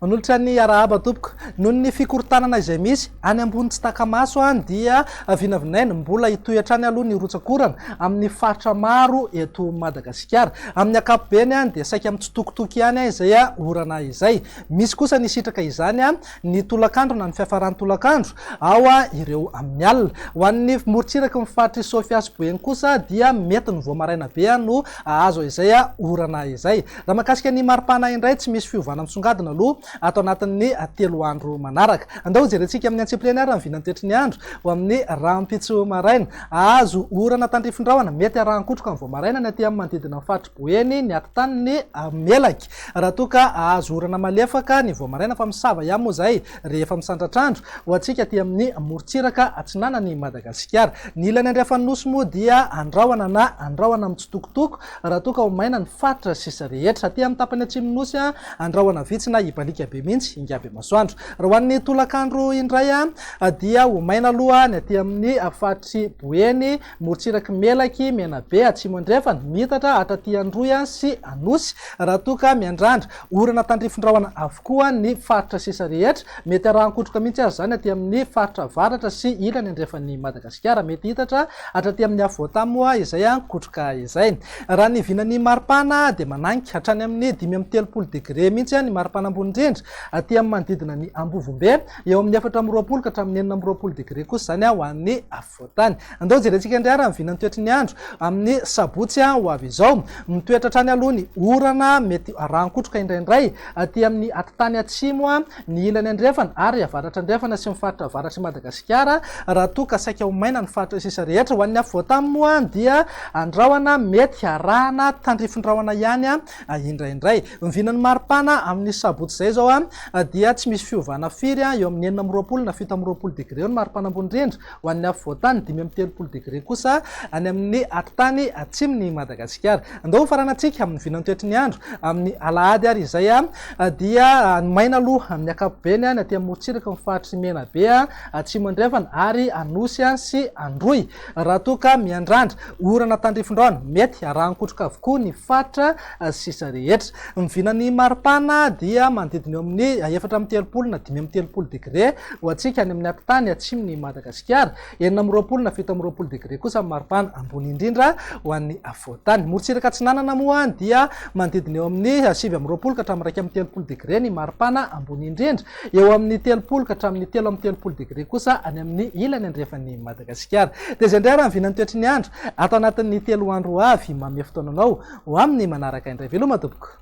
Manolotra ny arahaba tompoko. Noho ny fikorontanana izay misy any ambony tsy taka-maso any dia vinavinaina mbola hitohy hatrany aloha ny rotsak'orana amin'ny faritra maro eto Madagasikara. Amin'ny ankapobeny dia saika mitsitokotoko ihany izay orana izay. Misy kosa ny sitraka izany ny tolakandro na ny fiafaran'ny tolakandro ao ireo amin'ny alina. Ho an'ny morontsiraky ny faritr'i Sofia sy Boeny kosa dia mety ny vao maraina be no hahazo izay orana izay. Raha mahakasika ny maripana indray, tsy misy fiovana misongadina aloha ato anatin'ny telo andro manaraka. Andao hojerentsika amin'ny antsipiriany ary ny vinan'ny toetry ny andro ho amin'ny rahampitso maraina. Hahazo orana tandrifin-drahona mety arahan-kotroka ny vao maraina ny aty amin'ny manodidina ny faritr'i Boeny, ny atitaniny, Melaky. Raha toa ka hahazo orana malefaka ny vao maraina fa misava ihany moa izay rehefa misandratr'andro ho antsika aty amin'ny morontsiraka atsinanan'i Madagasikara. Ny ilany andrefan'ny Nosy moa dia andrahona na andrahona mitsitokotoko raha toa ka ho maina ny faritra sisa rehetra. Aty amin'ny tapany atsimon'ny Nosy, andrahona vitsy na hibaliaka be mihitsy ingaby masoandro. Raha ho an'ny tolakandro indray dia ho maina aloha ny aty amin'ny faritr'i Boeny Morotsiraky Melaky, Menabe, Atsimo Andrefana, Mitatra, hatraty Androy sy Anosy, raha toa ka miandrandra. Orana tandrifin-drahona avokoa ny faritra sisa rehetra. Mety arahan-kotroka mihitsy aza izany aty amin'ny faritra avaratra sy ilany andrefan'i Madagasikara. Mety hitatra hatraty amin'ny afovoan-tany moa izay kotroka izay. Raha ny vinan'ny maripana dia manainga. Hatrany amin'ny dimy amby telopolo degre mihitsy ny maripana ambony indrindra aty amin'ny manodidina ny Ambovombe. Eo amin'ny efatra amby roapolo ka hatramin'ny enina amby roapolo degre kosa izany ho an'ny afovoan-tany. Andao jerentsika indray ary ny vinan'ny toetry ny andro amin'ny sabotsy ho avy izao. Mitoetra hatrany aloha ny orana, mety rahan-kotroka indraindray aty amin'ny atitany atsimo, ny ilany andrefana ary avaratra andrefana sy ny faritra avaratr'i Madagasikara, raha toa ka saika ho maina ny faritra sisa rehetra. Ho an'ny afovoan-tany moa dia andrahona mety harahana tandrifin-drahona ihany Indraindray. Ny vinan'ny maripana amin'ny sabotsy izay izao dia tsy misy fiovana firy, eo amin'ny enina amby roapolo na fito amby roapolo degre eo ny maripana ambony indrindra ho an'ny afovoantany, dimy amby telopolo degre kosa any amin'ny atitany atsimon'i Madagasikara. Andao hofarana antsika amin'ny vinantoetry ny andro amin'ny alahady ary izay dia ny maina aloha amin'ny ankapobeny ny aty amorontsiraka, ny faritry Menabe, Atsimo Andrefana ary Anosy sy Androy. Raha toa ka miandrandra orana tandrifin-drano, mety arahan-kotroka avokoa ny faritra sisa rehetra. Ny vinan'ny maripana dia manodidina eo amin'ny efatra amby telopolo na dimy amby telopolo degre ho antsika any amin'ny atitany atsimon'i Madagasikara, enina amby roapolo na fito amby roapolo degre kosa ny maripana ambony indrindra ho an'ny afovoantany. Morotsiraka atsinanana moa dia manodidina eo amin'ny sivy amby roapolo ka hatramin'ny iraika amby telopolo degre ny maripana ambony indrindra. Eo amin'ny telopolo ka hatramin'ny telo amby telopolo degre kosa any amin'ny ilany andrefan'i Madagasikara. Dia izay indray ary ny vinan'ny toetry ny andro ato anatin'ny telo andro ho avy. Manome fotoana anao ho amin'ny manaraka indray. Veloma tompoko.